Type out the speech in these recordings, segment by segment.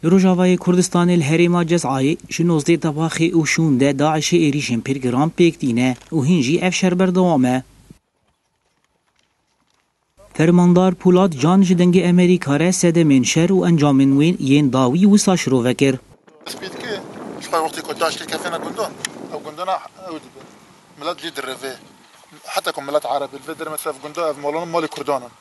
Li Rojavayê Kurdistanê li herêma Cezayê ji nozdeh debaxê û şûn de DAIŞ'ê êrîşên pir giran pêk tîne û hîn jî ev şer berdewam e. Fermandar Pûlat Can ji dengê Emerîka re sedemên şer û encamên wê yên dawî wisa şirove kir. Spîdikê ji xwe wextê ku DAIŞ'ê kefêne gundan, ew gundana ew dibin. Milet jî direvê. Heta ku milet erebî li vê derê me sef gunda ev malan malê Kurdan in.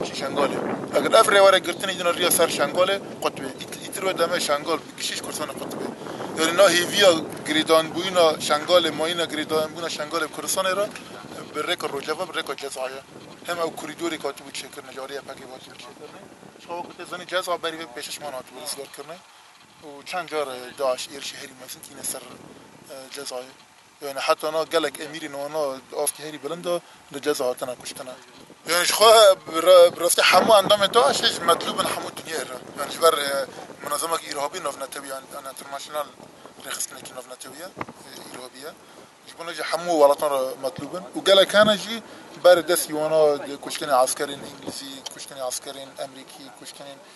Kişî Şengalê. Eger ev rêwere girtinê jî na riya ser Şengalê qutbê. Îtir wê demê Şengal bi kişî ji Kurdistanê qutbê. Yanî na hêviya girêdanbûyîna Şengalê, mayîna girêdanbûna Şengalê bi Kurdistanê re bi rêka Rojava, bi rêka Ceza ye. Him ew korîdorêk hatibû çêkirinê, li alî YPG'ê ve hatibû çêkirinê. Ji xwe wekî te zanî Ceza berî vê pêşişman hatibû rizgarkirinê û çend car DAIŞ êrişî herî mezin tîne ser Cezayê. Yanî heta na gelek emîrên wana di astê herî bilind de li ceza hatine kuştin e. Yanî ji xwe bi rastî hemû endamên DAIŞ'ê jî metlûb in hemû dinyayê re. Yanî ji ber Munezemeke Îrhabî Navnetewî ye, an International Rêxistinekî Navnetewî ye, Îrhabî ye. Ji bo ne jî hemû welatan re metlûb in û gelek hene jî berê destî wana kuştinê eskerên Îngilîzî, kuştinê eskerên Emrîkî, kuştinên.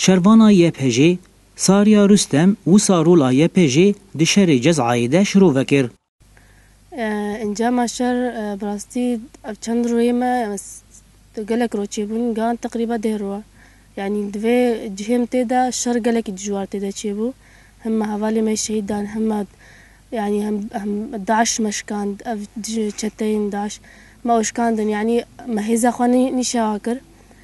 Şervana YPJ'ê, Sarya Rustem wisa rola YPJ'ê di şerê Cezayê de şirove kir. Encama şer bi rastî ev çend royê me gelek roj çêbûn, gihan teqrîba deh roj e. Yanî di vê cihê min tê de şer gelekî dijwar tê de çêbû. Him me hevalên me şehîd dan, him me yanî him DAIŞ me şikand, ev çeteyên DAIŞ me û şikandin. Yanî me hêza xwe nîşewa kir.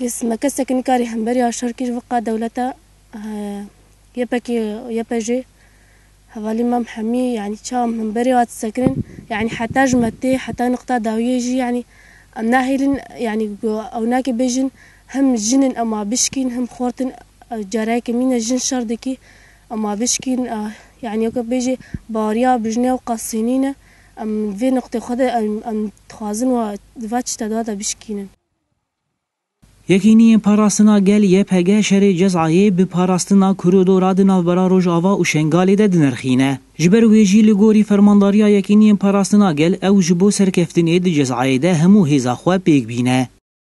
Me kesek nikarî hemberî a şerkîrvika dewleta YPK'ê û YPJ'ê hevalî mam hemî yanî çawa min berê hat sekirin yanî heta ji me tê heta nuqta dawiyê jî yanî em nahêlin yanî ku ew nake bêjin him jin in em a bişkîn him xort in careke mîne jin şer dikî em a bişkîn yanî weke bêjê baweriya bijne û qasînîne em vê nuqtê xwe de em em dixwazin wa di va çîta de bişkînin. Yekîniyên Parastina Gel, YPG, şerê Cezayê bi parastina koridora di navbera Rojava û Şengalê de dinirxîne. Ji ber wê jî li gorî Fermandariya Yekîniyên Parastina Gel ew ji bo serkeftinê di Cezayê de hemû hêza xwe pêk bîne.